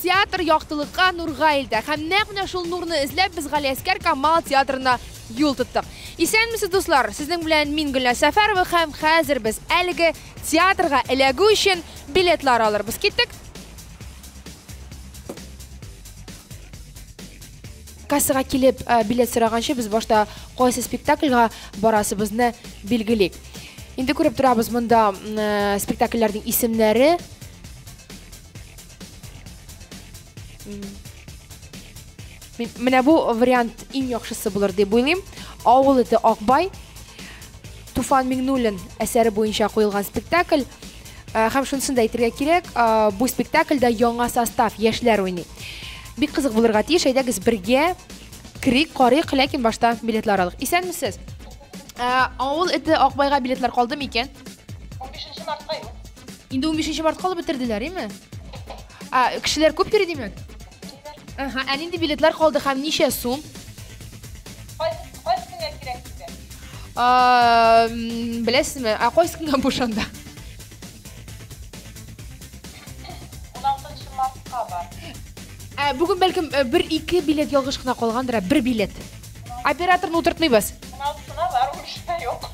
Театр яктылыкка нурга илтә. Һәм нәкъ менә шул нурны эзләп без Галиәскәр Камал театрына юл тоттык. Исәнмесез, дуслар! Сезнең белән мин Гөлнә Сәфәрова һәм хәзер без әлеге театрга эләгү өчен билетлар алырбыз. Киттек! Кассага килеп билет сораганчы без башта кайсы спектакльга барасыбызны билгелик. Инде күреп торабыз монда спектакльләрнең исемнәре. Менә бу вариант иң яхшысы булыр дип уйлыйм. Авыл ите Акбай Туфан Миңнуллин әсәре буенча куелган спектакль. Э, һәм шунысын да әйтергә кирәк, э, бу спектакльдә яңа состав, яшьләр уйный. Бик кызык булырга тиеш, әйдәгез бергә керик, карыйк, ләкин башта билетлар алыйк. Исәнмесез. Э, авыл эте Акбайга билетлар калдымы икән? 15 мартка юк. Инде 15 мартка алып бетерделәр, име? А, кешеләр күп йөри димәк? Ага, ә нинди билетлар калды һәм ничә сум? Кайсы көнгә кирәк сезгә? А, м, беләсезме? Ә кайсы көнгә буш анда? 16 мартка бар. Ә, бүген бәлкем э, бер ике билет ялгыш кына калгандыр, ә бер билет. Операторны утыртмыйбыз. 16-сына бар, 13-сына юк.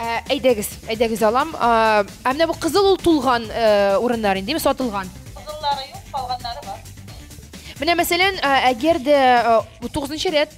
Ә, әйдәгез, әйдәгез алам. А, ә менә бу кызыл ул тулган э, урыннар инде, сатылган. Кызыллары юк, калганнары бар. Менә мәсәлән, ә, әгәр дә э, бу 9 рәт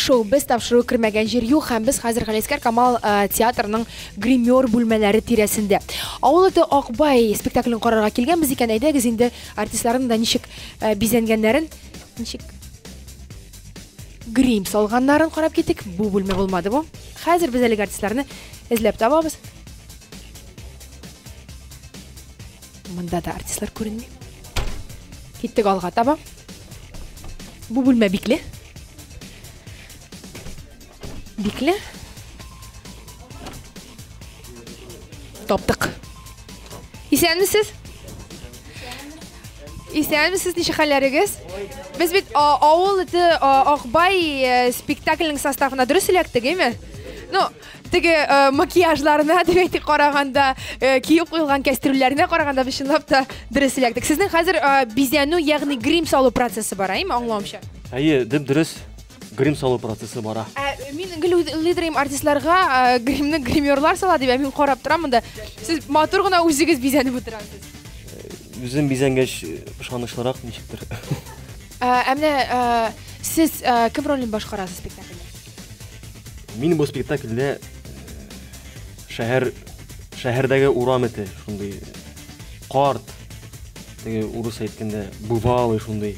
шоу без тапшыру кермәгән җир юк һәм без хәзер галиәскәр камал э, театрының гример бүлмәләре тирәсендә авыл эте акбай спектаклен карарга килгәнбез икән әйдәгез инде артистларның да ничек э, бизәнгәннәрен ничек грим салганнарын карап киттек бу бүлмә булмады бу хәзер без әлеге артистларны эзләп табабыз монда да артистлар күренми киттек алга таба Бу бүлмә бикле. Бикле. Таптык. Исәнмесез? Исәнмесез, ничек хәлләрегез? Без бит авыл ите Акбай э, спектакльнең составына дөрес эләктек, әйме? Ну, теге э, макияжларына дип әйтик караганда э, киеп куелган кәстрүлләренә караганда без чынлап та дөрес эләктек сезнең хәзер э, бизәнү ягъни грим салу процессы бара әйме аңлавымча әйе дөп дөрес грим салу процессы бара ә, мин гел уйлыйдырым артистларга ә, гримны гримерлар сала дип ә мин карап торам монда сез матур гына үзегез бизәнеп утырасыз үзем бизәнгәч ышанычлырак ничектер ә, ә менә ә, сез ә, кем ролен башкарасыз спектакльдә Мин бу спектакльдә э, шәһәр шәһәрдәге урам эте, шундый карт, теге урыс әйткәндә бывалый шундый.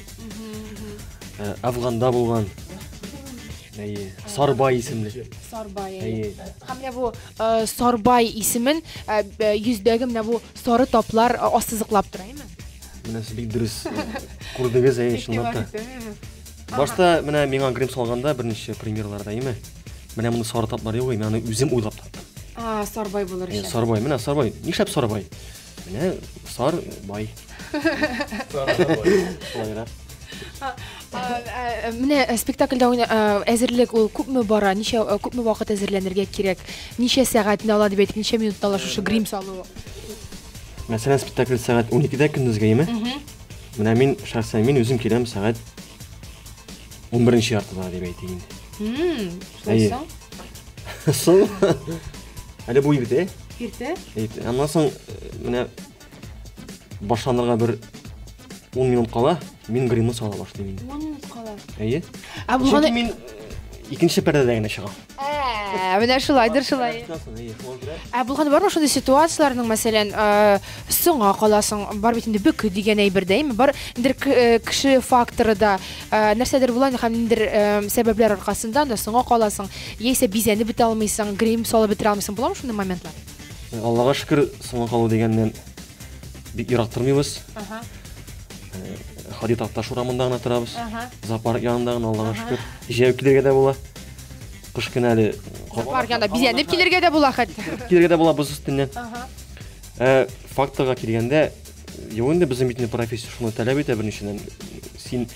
Э, Афганда булган. Әйе, Сарбай исемле. Сарбай. Әйе. Һәм менә бу э, Сарбай исемен э, б- йөздәге менә бу сары таплар э, ассызыклап тора, әйме? Менә сез бик дөрес күрдегез, әйе, чынлап та. Башта менә миңа грим салганда берничә примерларда име. Менә моны сары таплар юк, мин аны үзем уйлап таптым. А, сарбай булыр өчен. Сарбай, менә сарбай. Нишләп сарбай? Менә сар бай. Сарбай. Менә э, спектакльдә уйна э, әзерлек ул күпме бара? Ничә э, күпме вакыт әзерләнергә кирәк? Ничә сәгатьне ала дип әйтик, ничә минутта ала шушы грим салу? Мәсәлән, спектакль сәгать 12-дә көндезгә, яме? Менә мин шәхсән мин үзем киләм сәгать 11 яртыда дип әйтәйин. Хм, шулай соң. Соң. Әле бу иртә. Иртә? Иртә. Аннан соң э, менә башланырга бер 10 минут кала, мин гримны сала башлыйм инде. 10 минут кала. Әйе. Ә булганы мин э, икенче пәрдәдә генә чыгам. Ә, менә шулайдыр шулай. Ә булган бармы шундый ситуацияләрнең, мәсәлән, э, соңа каласың, бар бит инде бөке дигән әйбер дә, әйме? Бар ниндер э, кеше факторы да, э, нәрсәдер була инде һәм ниндер э, сәбәпләр аркасында анда соңа каласың, яисә бизәнеп бетә алмыйсың, грим салып бетерә алмыйсың. Буламы шундый моментлар? Э, Аллага шөкер, соңга калу дигәннән бик ерак тормыйбыз. Ага. Э, Хадид Атташ урамында гына торабыз. Ага. Зоопарк янында гына, Аллага шөкер. Җәяү килергә дә була. Кыш көне әле Бар янда бизәнеп килергә дә була хәтта. Килергә дә була боз өстеннән. Ә факторга килгәндә, юк инде безнең бит профессия шуны таләп итә берничәдән. Син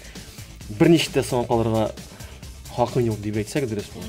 берничә дә соң калырга хакың юк дип әйтсәк дөрес булыр.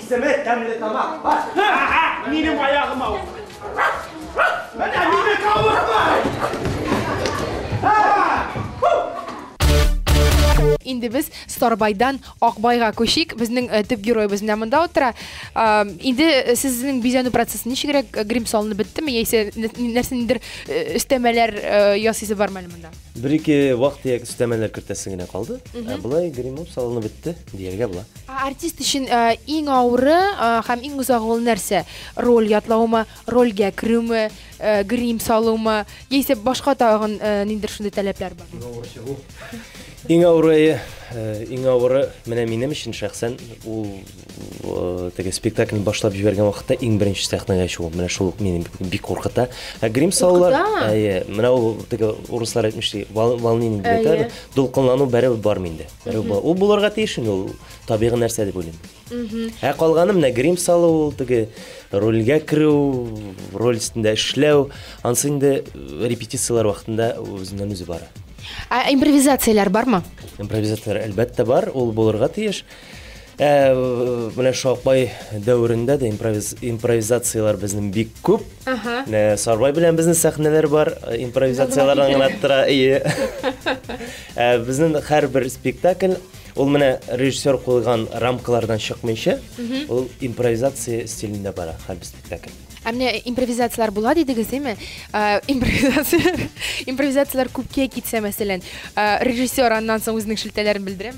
Исеме тәмле тамак. Бар. Ага, минем аягым авыр. Менә мине кавыртмай. Инде без Старбайдан Акбайга күчик. Безнең э, төп героебыз менә монда утыра. Э, инде э, сезнең бизәнү процессы ничегрәк? Э, Грим салынып беттеме яисә нә- нәрсәнедер э, өстәмәләр э, ясыйсы бармы әле монда? Бер-ике вак-төяк өстәмәләр кертәсе генә калды. Ә болай гримап салынып бетте, дияргә була. Ә артист өчен иң авыры һәм иң озагы ул нәрсә? Роль ятлаумы, рольгә керүме, грим салумы, яисә башка тагын ниндидер шундый таләпләр бар? Иң авыры чыгу. Иң авыры, иң авыры менә минем өчен шәхсән ул теге спектакльне башлап җибәргән вакытта иң беренче сәхнәгә чыгу. Менә шул ук мине бик куркыта. Ә грим салулар, әйе, менә ул теге урыслар әйтмешли, волнение дип әйтәләр, дулкынлану бәрәбәр бар миндә. Рыба. Ул булырга тиеш инде ул табигый нәрсә дип уйлыйм. Ә калганы менә грим салу, ул теге рольгә керү, роль өстендә эшләү, ансы инде э, репетицияләр вакытында үзеннән үзе бара. Ә импровизацияләр бармы? Импровизация әлбәттә бар, ул булырга тиеш. Ә менә Шалкбай дәверендә дә импровиз, импровизацияләр безнең бик күп. Ага. Ә, Сарбай белән безнең сәхнәләр бар, э, импровизацияләр аңына тора. Ие. Ә, безнең һәрбер спектакль ул менә режиссер куйган рамкалардан чыкмыйча, ул импровизация стилендә бара һәрбер спектакль. Ә менә импровизацияләр була дидегез, димме? Ә, импровизацияләр, импровизацияләр күпкә китсә, мәсәлән, ә, режиссер аннан соң үзенең шелтәләрен белдерәме?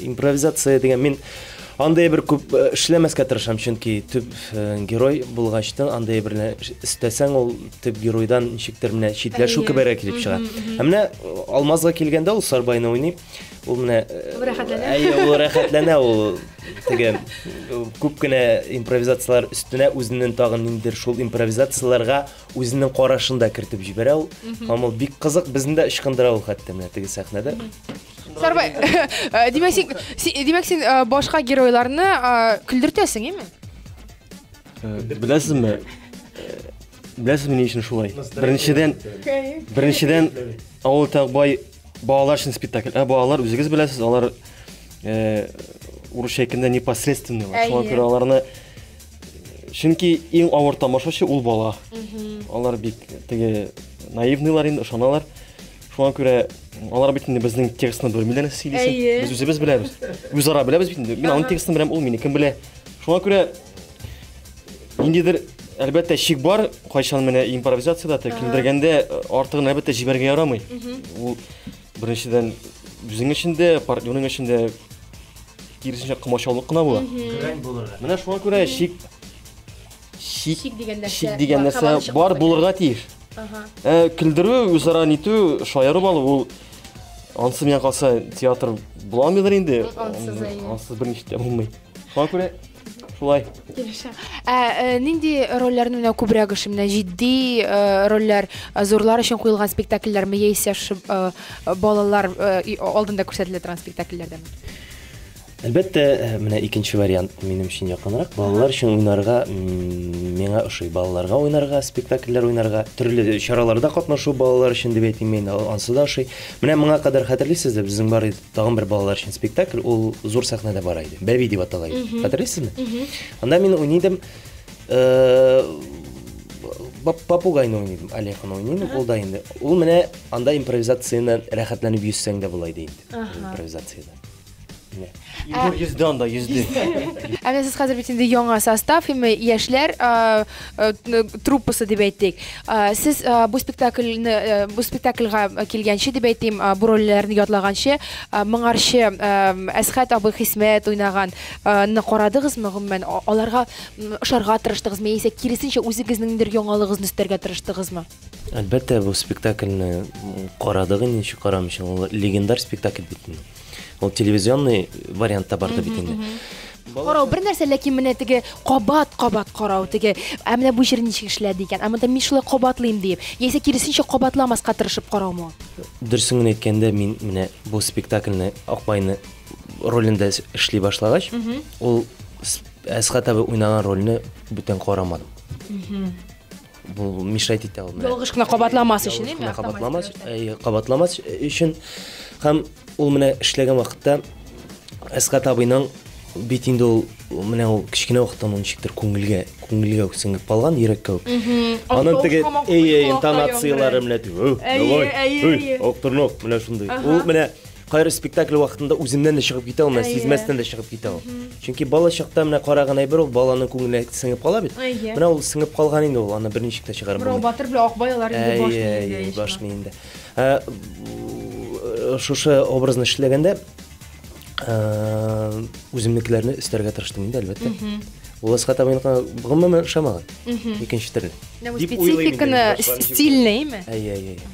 Импровизация дигән мин андый бер күп э, эшләмәскә тырышам, чөнки төп э, герой булгачтын андый берлә эстәсәң ул төп геройдан ничектер менә читләшү кеберәк килеп чыга. Ә менә э, Алмазга килгәндә ул Сарбайны уйный. Ул менә рәхәтләнә. Әйе, ул рәхәтләнә ул теге күп кенә импровизацияләр өстенә үзеннән тагын ниндер шул импровизацияләргә үзенең карашын да кертеп җибәрә ул. Һәм ул бик кызык, безне дә ычкындыра ул хәтта менә теге сәхнәдә. Сарбай, э, димәк син, димәк син э, башка геройларны э, көлдертәсең, име? Беләсезме? Беләсезме ни өчен шулай? Беренчедән, беренчедән авыл тагбай балалар өчен спектакль. Ә балалар үзегез беләсез, алар урысча әйткәндә непосредственно, шуңа күрә аларны чөнки иң авыр тамашачы ул бала. Алар бик теге наивныйлар инде, ышаналар. Шуңа күрә алар бит инде безнең текстны белмиләр сөйлисең. Без үзебез беләбез. Үзара беләбез бит инде. Мин аның текстын беләм, ул мине кем белә. Шуңа күрә ниндидер әлбәттә шик бар, кайчан менә импровизациядә тә килдергәндә э, артыгын әлбәттә җибәргә ярамый. Ул беренчедән үзең өчен дә, партнерың өчен дә киресенчә комачаулык кына була. Менә шуңа күрә шик Шик, Шик дигән нәрсә шик дигән бар, нәрсә һаваны чыкмау бар, белән. булырга тиеш. Ага. Ә, көлдерү, үзара нитү, шаярып алу ул ансы миңа калса театр буламыйдыр инде. Ансыз, әйе. Ансыз берничә дә булмый. Шуңа күрә шулай. Килешә. Ә э, нинди рольләрне менә күбрәк ошый? Менә җитди э, рольләр, э, зурлар өчен куелган спектакльләрме яисә ши- э, балалар э, и- алдында күрсәтелә торган спектакльләрдәме? Әлбәттә, менә икенче вариант минем өчен якынрак. Балалар өчен уйнарга миңа ошый. Балаларга уйнарга, спектакльләр уйнарга, төрле чараларда катнашу балалар өчен дип әйтим мин, ансы да ошый. Менә моңа кадәр хәтерлисезме, безнең бар иде тагын бер балалар өчен спектакль, ул зур сәхнәдә бара иде. Бәби дип атала иде. Хәтерлисезме? Анда мин уйныйдым. Э, попугайны уйныйдым, Олегны уйныйдым, ул да инде. Ул менә анда импровизацияне рәхәтләнеп йөзсәң дә була иде инде. Импровизацияда. Егор йөзде анда, йөзде. Ә менә сез хәзер бит инде яңа состав, һәм яшьләр а, а, н- труппасы дип әйтик. А, Сез а, бу спектакльне э, бу спектакльга килгәнче дип әйтим, а, бу рольләрне ятлаганчы, а, моңарчы а, Әсхәт абый Хисмәт уйнаган а, ны карадыгызмы гомумән? А- Аларга м, ошарга тырыштыгызмы яисә киресенчә үзегезнеңдер яңалыгызны өстәргә тырыштыгызмы? Әлбәттә, бу спектакльне карадык инде, ничек карамыйча. Ул легендар спектакль бит. Ул телевизионный вариантта барды бит инде. Карау бер нәрсә, ләкин менә теге кабат-кабат карау теге. Ә менә бу җир ничек эшләде икән? Ә монда мин шулай кабатлыйм диеп. Яисә киресенчә кабатламаска тырышып караумы? Дөресен генә әйткәндә, мин менә бу спектакльне Акбайны ролендә эшли башлагач, ул Әсхат абый уйнаган рольне бүтән карамадым. бу мешать итә ул ялгыш кына кабатламас өчен яме кабатламас кабатламас өчен һәм ул менә эшләгән вакытта әсгат абыйның бит инде ул менә ул кечкенә вакыттан ул ничектер күңелгә күңелгә сеңеп калган йөрәккә үк аның теге әйе интонацияләре менә әйе әйе актырнак менә шундый ул менә Кайры спектакль вакытында үзеннән дә чыгып китә ул, менә сизмәстән дә чыгып китә ул. Чөнки бала чакта менә караган әйбер ул баланың күңеленә сеңеп кала бит. Менә ул сеңеп калган инде ул, аны берничек тә чыгарып булмый. Бу батыр белән акбай алар инде баш миендә. Баш миендә. Ә, шушы образны эшләгәндә ә, үземнекеләрне өстәргә тырыштым инде, әлбәттә. Уласка табын гомумән ошамаган. Икенче төрле. Дип уйлыйм. Спецификаны стильныйме? Әйе, әйе.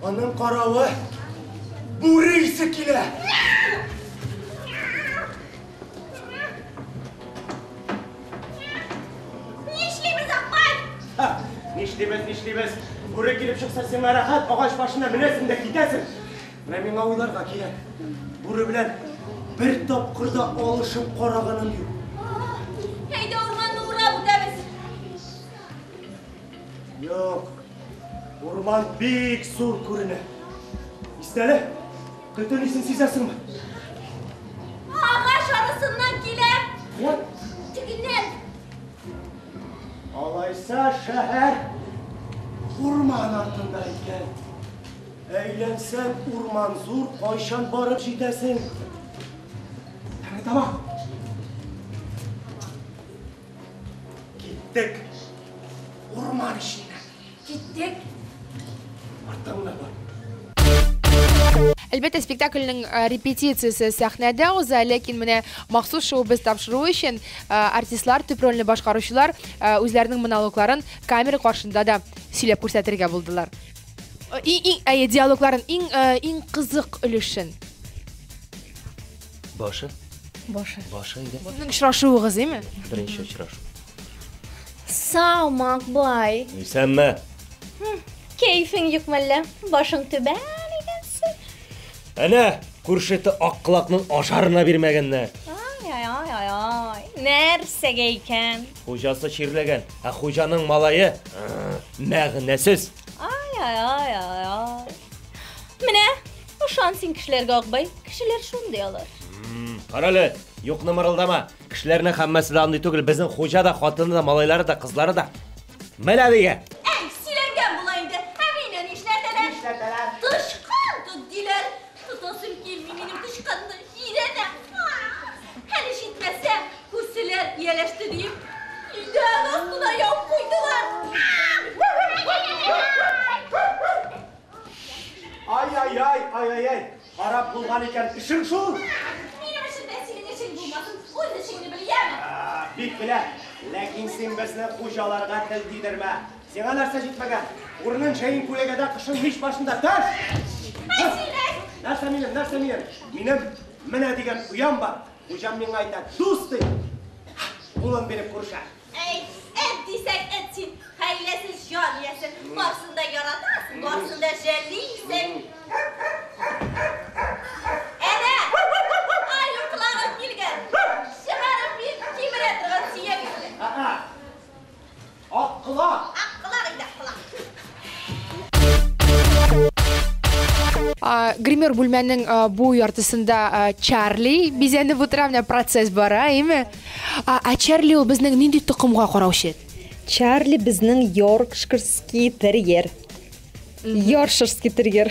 Аның каравы бүре исе килә. Нишлибез, апай? Нишлибез, нишлибез. Бүре килеп чыкса, сиңа рәхәт, агач башына менәсең дә китәсең. Менә миңа уйларга кирәк. Бүре белән бер тапкыр да алышып караганым юк. Әйдә, урманны урап үтәбез. Юк. Урман бик зур күренә. Истәле, көтен исен сизәсеңме? Агач арасыннан килә. Вот. Тегеннән. Алайса шәһәр урман артында икән. Әйләнсәң урман зур, кайчан барып җитәсең? Тәңре тамак. Киттек. Урман эченә. Киттек. Артыңда бар. Әлбәттә, спектакльнең э, репетициясе сәхнәдә уза, ләкин менә махсус шоу без тапшыру өчен э, артистлар, төп рольне башкаручылар э, үзләренең монологларын камера каршында да сөйләп күрсәтергә булдылар. Иң, иң, әйе, диалогларын иң, иң кызык өлешен. Башы? Башы. Башы иде. Сезнең очрашуыгыз, име? Беренче очрашу. Сау, Макбай. Исәнме? Кәйфең юк мәллә? Башың түбән икәнсең. Әнә, күршете аккылакның ашарына бирмәгәннәр. Ай, ай, ай, ай, ай. Нәрсәгә икән? Хуҗасы чирләгән, ә хуҗаның малае мәгънәсез. Ай, ай, ай, ай, ай. Менә Ышан син кешеләргә, Акбай, кешеләр шундый алар. Карале, юкны мырылдама. Кешеләрнең хаммасы да андый түгел, безнең хуҗа да, хатыны да, малайлары да, кызлары да. Менә дигә. Әй, сөйләнгән була инде. Ә мине нишләтәләр? Нишләтәләр? Тычкан тот диләр. Тотасым килми минем тычканны. Җирәнә. Әле җитмәсә, күрселәр, ияләште диеп, өйдән астына яуып куйдылар. Ай-яй-яй, ай-яй-яй, харап булган икән эшең шул. Минем өчен дә синең эшең булмасын, үз эшеңне бел, яме? Бик белә, ләкин син безне хуҗаларга тел тидермә. Сиңа нәрсә җитмәгән? Урынын җәен күләгәдә, кышын мич башында тәш! Мәҗилес! Нәрсә минем, нәрсә минем? Минем менә дигән оям бар. Хуҗам миңа әйтә, дус ди. Кулын биреп күрешә. Әй, эт дисәң, эт син, хәйләсез җан иясе, барсын да яратасың, барсын да жәллисең. Әнә, аю колагым килгән, чыгарып бир, кимерә торган сөяк итне. Ә-ә, ак колак! Ак колак инде, ак колак. гример бүлмәнең бу яртысында чарли бизәнеп утыра менә процесс бара әйеме ә чарли ул безнең нинди токымга караучы чарли безнең йоркширский терьер йорширский терьер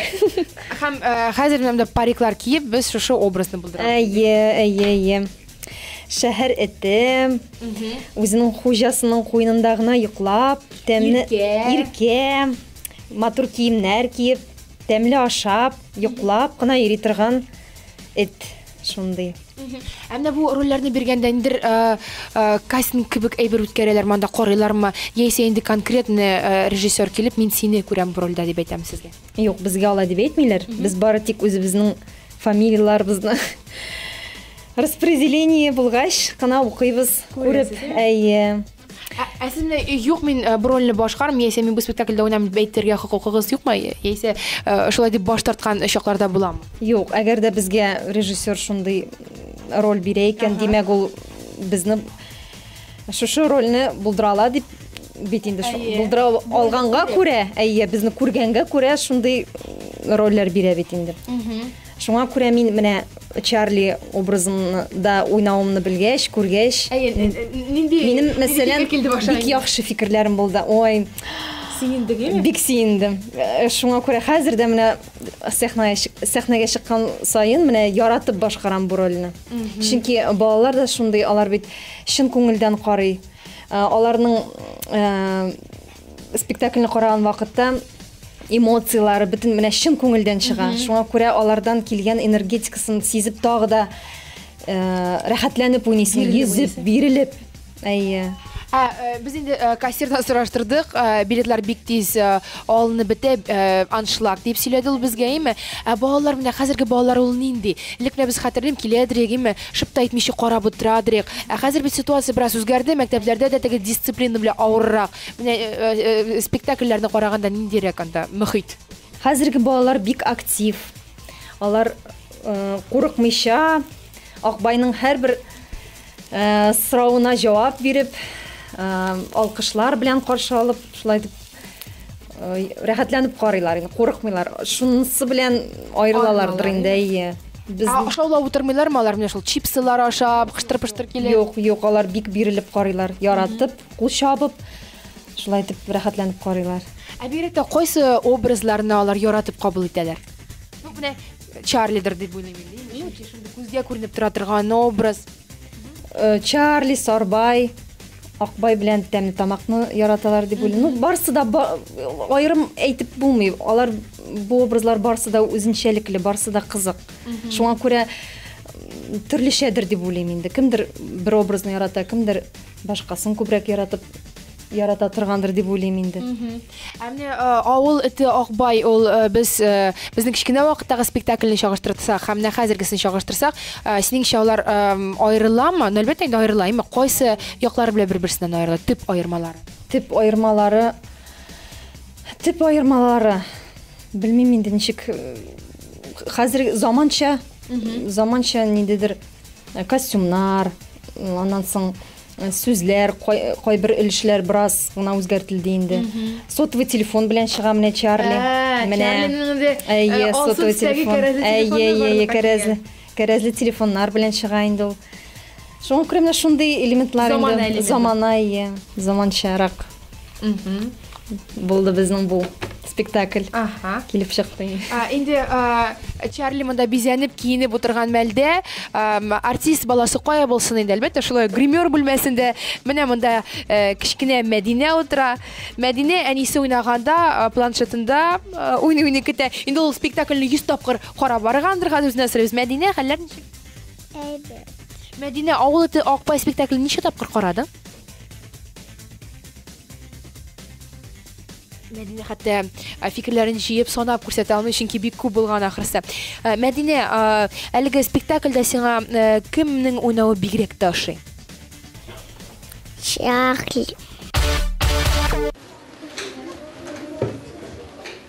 һәм хәзер менә париклар киеп без шушы образны булдырабыз әйе әйе әйе шәһәр эте үзенең хуҗасының куенында гына йоклап тәмле иркә матур киемнәр киеп тәмле ашап йоклап кына йөри торган эт шундый ә менә бу рольләрне биргәндә ниндидер э, э, кастинг кебек әйбер үткәрәләрме анда карыйлармы яисә инде конкретный э, режиссер килеп мин сине күрәм бу рольдә дип әйтәме сезгә юк безгә алай дип әйтмиләр без бары тик үзебезнең фамилияләребезне Распределение булгач кына укыйбыз, күреп. Әйе. Ә, ә сез менә э, юк мин э, бу рольне башкарам, яисә мин бу спектакльдә уйнам дип әйтергә хокукыгыз юкмы? Яисә э, шулай дип баш тарткан чакларда буламы? Юк, әгәр дә безгә режиссер шундый роль бирә икән, димәк ул безне шушы рольне булдыра ала дип бит инде булдыра алганга күрә, әйе, безне күргәнгә күрә шундый рольләр бирә бит инде. Шуңа күрә мин менә Чарли образын да уйнавымны белгәч, күргәч, Әйе, н- н- н- нинди минем нинди мәсәлән фикер килде башына? бик яхшы фикерләрем булды. Ой, Сөендегеме? бик сөендем. Э, Шуңа күрә хәзер дә менә сәхнәгә чык- сәхнәгә чыккан саен менә яратып башкарам бу рольне. Чөнки балалар да шундый, алар бит чын күңелдән карый. Э, Аларның э, спектакльне караган вакытта эмоцияләре бөтен менә чын күңелдән чыга. Шуңа күрә алардан килгән энергетикасын сизеп тагы да э, рәхәтләнеп уйныйсың, Бирелеп йөзеп, уйныйсың. бирелеп. Әйе. Ә, э, без инде э, кассирдан сораштырдык, э, билетлар бик тиз э, алынып бетә, э, аншлаг дип сөйләде ул безгә, име? Ә балалар менә хәзерге балалар ул нинди? Элек менә без хәтерлим, киләдер, име? Шып та итмичә карап утырадырыйк. Ә хәзер бит ситуация бераз үзгәрде, мәктәпләрдә дә теге дисциплина белән авыррак. Менә спектакльләрне караганда ниндирәк анда мөхит? Хәзерге балалар бик актив. Алар курыкмыйча, Акбайның һәрбер соравына җавап биреп, алкышлар белән каршы алып, шулай итеп рәхәтләнеп карыйлар инде курыкмыйлар шунысы белән аерылалардыр инде әйе без ашаулап утырмыйлармы алар менә шул чипсылар ашап кыштыр пыштыр килеп юк юк алар бик бирелеп карыйлар яратып кул чабып шулай итеп рәхәтләнеп карыйлар ә бигрәк тә кайсы образларны алар яратып кабул итәләр ну менә чарлидер дип уйлыйм инде күзгә күренеп тора торган образ Чарли, Сарбай, Акбай белән тәмле тамакны яраталар дип уйлыйм. Ну, барсы да айрым әйтеп булмый. Алар бу образлар барсы да үзенчәлекле, барсы да кызык. Шуңа күрә төрлечәдер дип уйлыйм инде. Кемдер бер образны ярата, кемдер Башкасын күбрәк яратып ярата торгандыр дип уйлыйм инде. Ә менә авыл эте Акбай ул без безнең кечкенә вакыттагы спектакльне чагыштырсак һәм менә хәзергесен чагыштырсак, синеңчә алар аерыламы? Ну, әлбәттә инде аерыла, әмма кайсы яклары белән бер-берсеннән аерыла? Төп аермалары. Төп аермалары Төп аермалары белмим инде ничек хәзер заманча заманча ниндидер Э, костюмнар, аннан соң э, сүзләр, кайбер өлешләр бераз гына үзгәртелде инде. Сотовый телефон белән чыга менә Чарли. Ә, менә. Әйе, э, сотовый телефон. Әйе, әйе, кәрәзле. Кәрәзле телефоннар белән чыга инде ул. Шуңа күрә менә шундый элементлар инде. Замана элементы. Замана, әйе, заманчарак. Булды безнең бу спектакль ага. килеп чыкты а, инде а, чарли монда бизәнеп киенеп утырган мәлдә а, артист баласы кая булсын инде әлбәттә шулай гример бүлмәсендә менә монда ә, э, кечкенә мәдинә утыра мәдинә әнисе уйнаганда а, планшетында а, уйный уйный көтә инде ул спектакльне йөз тапкыр карап баргандыр хәзер үзенә сорыйбыз мәдинә хәлләр ничек әйбәт мәдинә авыл эте акбай спектаклен ничә тапкыр карадың Мәдинә хәтта э, фикерләрен җыеп санап күрсәтә алмый, чөнки бик күп булган ахрысы. Э, Мәдинә, э, әлеге спектакльдә сиңа кемнең уйнавы бигрәк тә ошый? Чахли.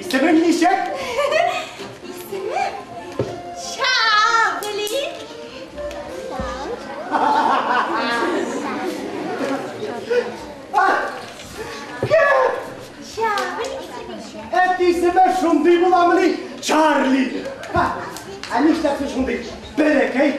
Исемең ничек? Исемем Чагли. Әт исеме шундый буламыни? Чарли. Ә нишләп шундый? Бәләкәй.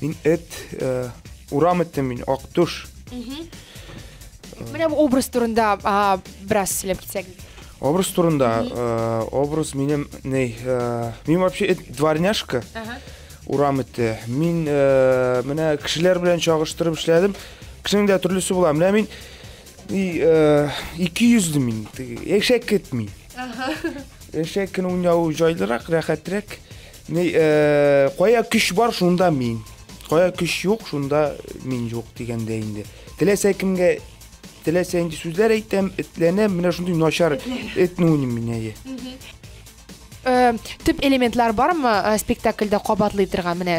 Мин эт, э, урам эттем мин, Актуш. Менә бу образ турында а, бераз сөйләп китсәк. Образ турында, э, образ минем, ней, э, мин вообще эт, дворняшка, урам эте. Мин э, менә кешеләр белән чагыштырып эшләдем. Кешенең дә төрлесе була. Менә мин и, э, ике йөзле мин, теге, ишәк эт мин. Яшәй көн уйнау җайлырак, рәхәтрәк. Ни, э, кая көч бар, шунда мин. Кая көч юк, шунда мин юк дигәндә инде. Теләсә кемгә теләсә инде сүзләр әйтәм, этләнәм, менә шундый начар этне уйныйм мин әйе. Э, төп элементлар бармы э, спектакльдә кабатлый торган менә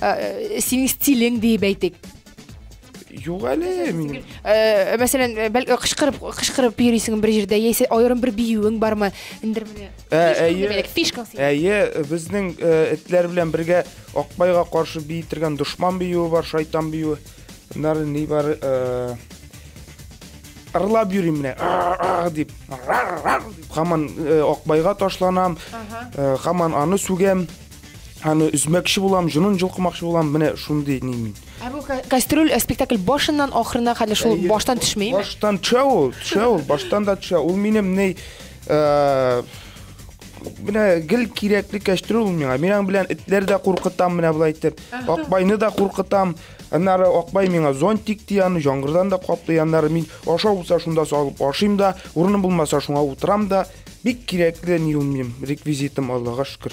э, синең стилең диеп әйтик Юк әле минем. Э, мәсәлән, э, бәлки кычкырып, кычкырып йөрисең бер җирдә, яисә аерым бер биюең бармы? Индер менә. Э, әйе. Фишка. Әйе, безнең этләр белән бергә Акбайга каршы биетергән дошман биюе бар, шайтан биюе. Нары ни бар? ырлап йөрим менә дип хаман э, акбайга ташланам хаман э, аны сүгәм Аны үзмәкче булам, җонын җылкымакчы булам, менә шундый ни мин. Ә бу кастрюль э, спектакль башыннан ахырына хәтле шул баштан төшми. Баштан төшә ул, төшә ул, баштан да төшә. Ул минем ни э, менә гел кирәкле кәчтүр ул миңа. Мин аның белән этләр дә куркытам менә болай итеп. Акбайны да куркытам. Аннары Акбай миңа зонтик ди, аны җаңгырдан да каплый. Аннары мин аша булса шунда салып ашыйм да, урыным булмаса шуңа утырам да. Бик кирәкле ни ул минем реквизитым, Аллага шөкер.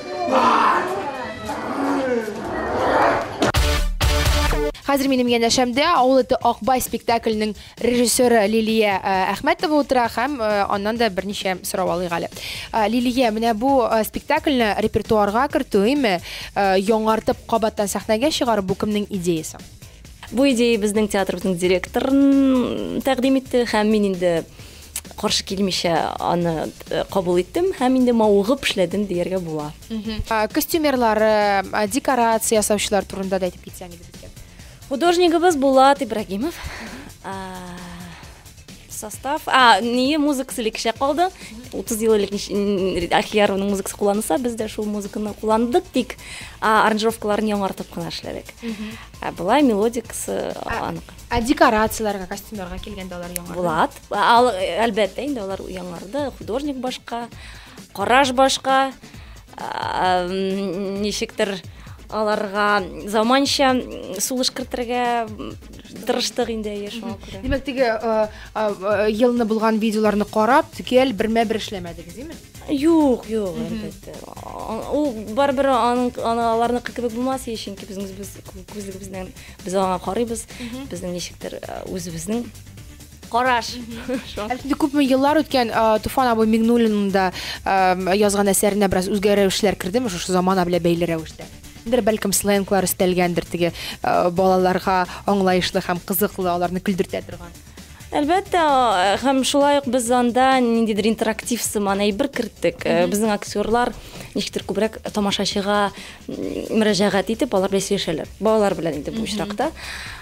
Хәзер минем янәшәмдә авыл эте Акбай спектакленең режиссеры Лилия э, Әхмәтова утыра һәм э, аннан да берничә сорау алыйк әле. Э, Лилия, менә бу спектакльне репертуарга кертү, име, яңартып кабаттан сәхнәгә чыгару бу кемнең идеясе? Бу идея безнең театрыбызның директорын тәкъдим итте һәм мин инде каршы килмичә аны кабул иттем һәм инде мавыгып эшләдем дияргә була. Костюмерлары, декорация ясаучылар турында да әйтеп китсәң иде безгә. Художнигыбыз Булат Ибрагимов. Состав, а, не музыка селекше калды. 30 ел элек Ахиярованың музыкасы кулланыса, без дә шул музыканы кулландык, тик аранжировкаларын яңартып кына эшләдек. Ә болай мелодикасы анык. Ә декорацияләргә, костюмнарга килгәндә алар яңарды? Булат, әлбәттә, инде алар яңарды, художник башка, караш башка, ничектер аларга заманча сулыш кертергә тырыштык инде әйе шуңа күрә димәк теге елны булган видеоларны карап төгәл бермә бер эшләмәдегез димме Юк, юк, әлбәттә. Ул барыбер аның аларныкы кебек булмас, чөнки безнең без күзлегебезнең без аңа карыйбыз. Безнең ничектер үзебезнең караш. Әлбәттә, күпме еллар үткән Туфан абый Мигнуллинның да язган әсәренә бераз үзгәрешләр кердеме шушы замана белән бәйле рәвештә? Дер бәлкем сленглар өстәлгәндер теге балаларга аңлаешлы һәм кызыклы, аларны көлдертә торган. Әлбәттә, һәм шулай ук без анда ниндидер интерактив сыман әйбер керттек. Э, безнең актерлар ничектер күбрәк тамашачыга мөрәҗәгать итеп, алар белән сөйләшәләр. Балалар белән инде бу очракта.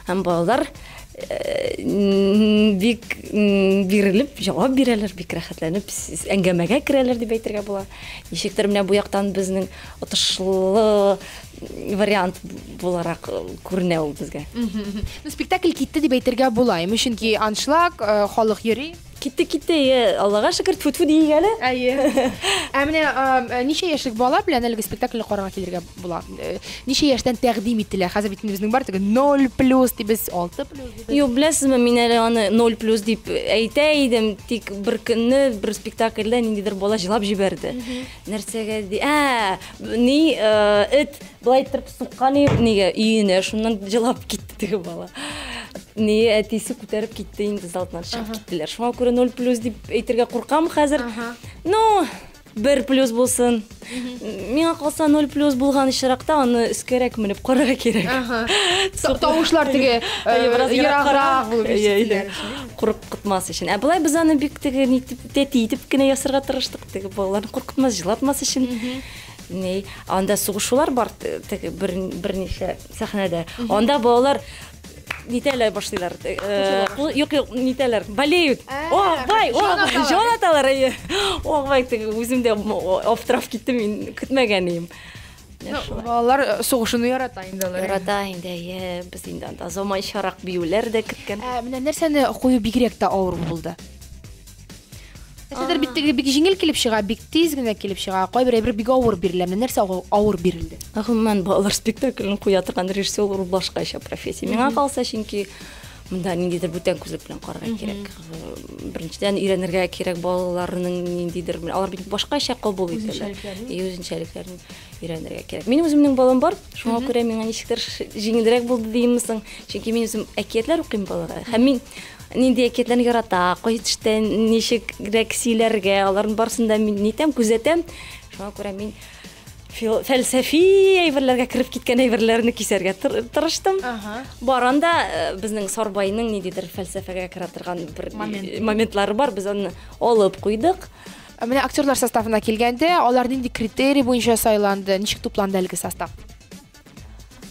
Һәм балалар э, бик бирелеп җавап бирәләр, бик рәхәтләнеп әңгәмәгә керәләр дип әйтергә була. Ничектер менә бу яктан безнең отышлы вариант буларак э, күренә ул безгә. Ну, спектакль китте дип әйтергә була, ими, чөнки аншлаг, э, халык йөри. Китте, китте, э, Аллага шөкер, тфу-тфу дигән әле. Әйе. Ә менә э, ничә яшьлек бала белән әлеге спектакльне карарга килергә була? Э, Ничә яшьтән тәкъдим ителә? Хәзер бит инде безнең бар теге 0 плюс дибез, 6 плюс дибез. Юк, беләсезме, мин әле аны 0 плюс дип әйтә идем, тик бер көнне бер спектакльдә ниндидер бала җылап җибәрде. Нәрсәгә ди? Ә, ни, эт былай иттереп суккан нигә өенә, шуннан җылап китте теге бала. Ни, әтисе күтәреп китте инде залтнан чыгып киттеләр. Шуңа күрә 0 плюс дип әйтергә куркам хәзер. Ну, бер плюс булсын. Миңа калса 0 плюс булган очракта аны өскәрәк менеп карарга кирәк. Тавышлар теге э, ераграк булып ишетелә. Куркытмас өчен. Ә былай без аны бик теге нитеп Тәти итеп кенә ясарга тырыштык, теге балаларны куркытмас, җылатмас өчен. Ни, анда сугышулар бар, те- теге бер берничә сәхнәдә. Анда балалар нитәләр башлыйлар. те- э, кул- Юк, юк, нитәләр, болеют. Ә, О, бай, о, җан аталар. җан аталар. әйе. О, бай, теге үзем дә м- о- аптырап киттем, мин көтмәгән идем. Балалар сугышыны ярата инде алар. Ярата инде, әйе, без инде анда заманчарак биюләр дә көткән. Ә менә нәрсәне кую бигрәк тә авыр булды? Нәрсәдер бит теге бик җиңел килеп чыга, бик тиз генә килеп чыга. Кайбер әйбер бик авыр бирелә. Менә нәрсә авыр бирелде? Гомумән, балалар спектаклен куя торган режиссер ул башкача профессия. Миңа калса, чөнки Монда ниндидер бүтән күзлек белән карарга кирәк. Беренчедән өйрәнергә кирәк балаларның ниндидер, алар бит башкача кабул итәләр. И үзенчәлекләрен өйрәнергә кирәк. Минем үземнең балам бар, шуңа күрә миңа ничектер җиңелрәк булды димме соң, чөнки мин үзем әкиятләр укыйм балаларга. Һәм мин нинди әкиятләрне ярата, кайсы төштә ничегрәк сөйләргә, аларның барысын да мин нитәм, күзәтәм. Шуңа күрә мин фәлсәфи әйберләргә кереп киткән әйберләрне кисәргә тырыштым. Бар анда э, безнең Сарбайның ниндидер фәлсәфәгә керә торган бер э, моментлары бар. Без аны алып куйдык. Ә менә актерлар составына килгәндә, алар нинди критерий буенча сайланды, ничек тупланды әлеге состав?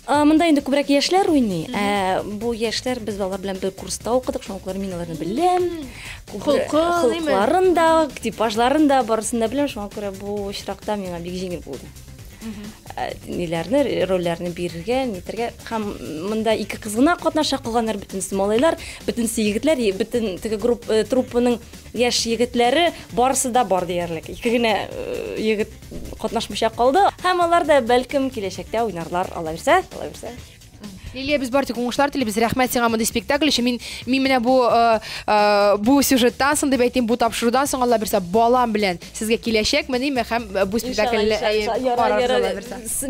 Монда инде күбрәк яшьләр уйный. Ә бу яшьләр без алар белән бер курста укыдык, шуңа күрә мин аларны беләм. Холыкларын да, типажларын да, барысын да беләм, шуңа күрә бу очракта миңа бик җиңел булды. Ә, ниләрне, рольләрне бирергә, нитергә. Һәм монда ике кыз гына катнаша, калганнар бөтенесе малайлар, бөтенесе егетләр, бөтен теге групп, э, труппаның яшь егетләре барысы да бар диярлек. Ике генә э, егет катнашмыйча калды. Һәм алар да бәлкем киләчәктә уйнарлар, алабирсә, алабирсә. Лилия, без бартик уңышлар телибез. Рәхмәт сиңа мондый спектакль өчен. Мин мин менә бу э, э, бу сюжеттан соң дип әйтим, бу тапшырудан соң Алла бирсә балам белән сезгә киләчәк мени һәм э, бу спектакльне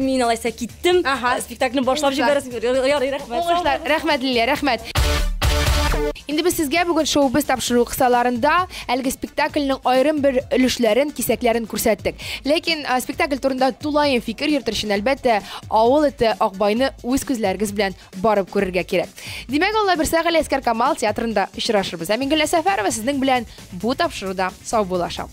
Мин алайса киттем. Ага. Спектакльне башлап җибәрәсез. Ярый, рәхмәт. Уңышлар. Рәхмәт Лилия, рәхмәт. Инде без сезгә бүген шоу без тапшыру кысаларында Әлеге спектакльнең аерым бер өлешләрен, кисәкләрен күрсәттек. Ләкин а, спектакль турында тулаем фикер йөртер өчен, әлбәттә, авыл эте Акбайны үз күзләрегез белән барып күрергә кирәк. Димәк, Алла бирсә, Галиәскәр Камал театрында очрашырбыз. Ә мин Гөлназ Сәфәрова сезнең белән бу тапшыруда сау булашам.